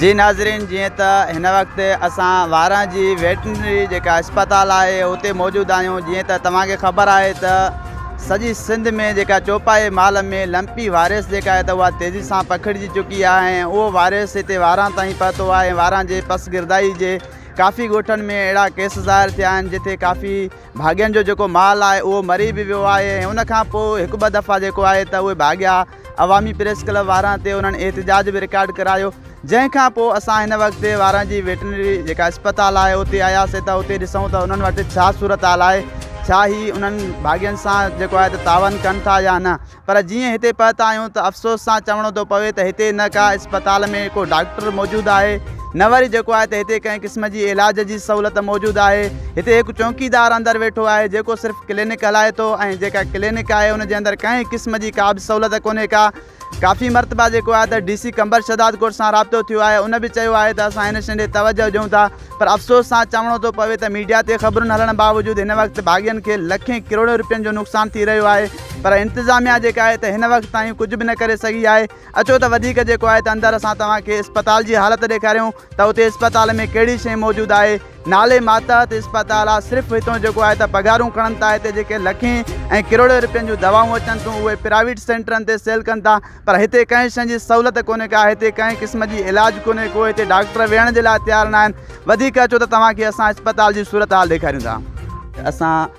جي ناظرين جيئن ته هن وقت اسان واران جي ويٽرنري جيڪا اسپتال آهي اتي موجود آهيون جيئن ته توهان کي خبر آهي ته سڄي سنڌ ۾ جيڪا چوپائي مال ۾ لمپي وائرس جيڪا آهي ته اها تيزي سان پکڙجي چڪي آهي ۽ اهو وائرس هتي واران تائين پهتو آهي ۽ واران جي پس گردائي جي ڪافي ڳوٺن ۾ اهڙا ڪيس ظاهر ٿيا آهن جتي ڪافي ڀاڳين جو جيڪو مال آهي اهو مري به ويو آهي ۽ ان کان پوء هڪ ٻه دفعا جيڪو آهي ته اهي ڀاڳيا عوامي پريس ڪلب واران تي انهن احتجاج به رڪارڊ ڪرايو جنهن کان پوء اسان هن وقت واران جي ويٽنري جيڪا اسپتال آهي اتي آياسي ته اتي ڏسون ته انهن وٽ ڇا صورتحال آهي ڇا هي انهن باغين سان جيڪو آهي ته تعاون ڪن ٿا يا نه پر جيئن هتي پهتا آهيون ته افسوس سان چوڻو ٿو پوي ته هتي نه ڪا اسپتال ۾ ڪو ڊاڪٽر موجود آهي نه وري جيڪو آهي ته هتي ڪنهن قسم جي علاج جي سهولت موجود آهي. هتي هڪ چونڪيدار اندر ويٺو آهي جيڪو صرف ڪلينڪ هلائي ٿو ۽ جيڪا ڪلينڪ آهي ان جي اندر ڪنهن قسم جي ڪا به سهولت ڪونهي ڪا. ڪافي مرتبا جيڪو آهي ته ڊي سي قمبر شهداد ڳوٺ سان رابطو ٿيو آهي ان به چيو آهي ته اسان هن شين ڏي توجهه ڏيون ٿا پر افسوس سان چوڻو ٿو پوي ته ميڊيا تي خبرن هلڻ باوجود هن وقت باغين کي لکين ڪروڙين روپين جو نقصان ٿي رهيو آهي پر انتظاميا جيڪا آهي ته هن وقت تائين ڪجهه به نه ڪري سگهي آهي. اچو ته وڌيڪ جيڪو آهي ته اندر اسان توهان کي اسپتال جي حالت ڏيکاريون ته اتي اسپتال ۾ ڪهڙي شيء موجود آهي نالي ماتحت اسپتال آهي صرف هتون جيڪو آهي ته پگهارون کڻن ٿا هتي جيڪي لکين ۽ ڪروڙين روپين جون دوائون اچن ٿيون اهي پرائيويٽ سينٽرن تي سيل ڪن ٿا پر هتي ڪنهن شيء جي سهولت ڪونهي ڪا هتي ڪنهن قسم جي علاج ڪونهي ڪو هتي ڊاڪٽر ويهڻ جي لاء تيار ناهن وڌيڪ اچو ته توهان کي اسان اسپتال جي صورتحال ڏيکاريون ٿا اسان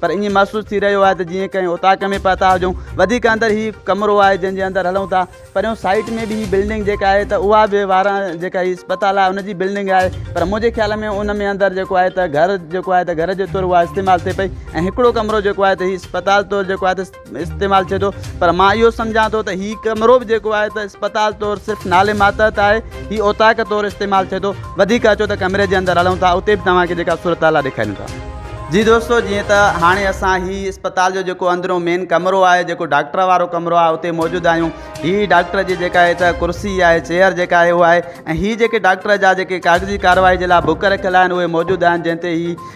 پر ائين محسوس ٿي رهيو آهي ته جيئن ڪنهن اوطاق ۾ پهتا هجون وڌيڪ اندر هي ڪمرو آهي جنهن جي اندر هلون ٿا پريون سائيٽ ۾ به هي بلڊنگ جيڪا آهي ته اها به واران جيڪا هي اسپتال آهي ان جي بلڊنگ آهي پر منهنجي خيال ۾ ان ۾ اندر جيڪو آهي ته گهر جيڪو آهي ته گهر جي طور اها استعمال ٿئي پئي ۽ هڪڙو ڪمرو جيڪو آهي ته هي اسپتال طور جيڪو آهي ته استعمال ٿئي ٿو پر مان اهو سمجهان ٿو ته هي ڪمرو به جيڪو آهي ته اسپتال طور صرف نالي ماتحت آهي هي اوطاق طور استعمال ٿئي ٿو وڌيڪ اچو ته ڪمري جي اندر هلون ٿا اتي به توهانکي جيڪا صورت حال ڏيکاريون ٿا جي دوستو جيئن ته هاڻي اسان هي اسپتال جو جيڪو اندرون مين ڪمرو آهي جيڪو ڊاڪٽر وارو ڪمرو آهي اتي موجود آهيون هي ڊاڪٽر جي جيڪا آهي ته ڪرسي آهي چيئر جيڪا آهي اهو آهي ۽ هي جيڪي ڊاڪٽر جا جيڪي ڪاغذي ڪارروائي جي لاء بڪ رکيل آهن اهي موجود آهن جنهن تي هي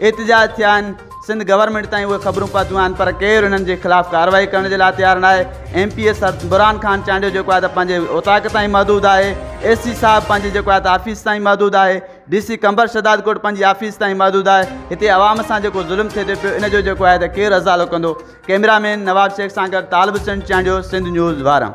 احتجاج ٿيا آهن سنڌ گورنمينٽ تائين اهي خبرون پهتيون آهن پر ڪير انهن جي خلاف ڪارروائي ڪرڻ جي لاء تيار ناهي M P A Burhan Khan Chandio جيڪو آهي ته پنهنجي اوطاق تائين محدود آهي اي سي صاحب پنهنجي جيڪو آهي ته آفيس تائين محدود آهي ڊي سي قمبر شهداد ڪوٽ پنهنجي آفيس تائين محدود آهي هتي عوام سان جيڪو ظلم ٿئي ٿو پيو ان جو جيڪو آهي ته ڪير ازالو ڪندو ڪئميرا مين نواب شيخ سان گڏ طالب حسين چانڊيو سنڌ نيوز وارا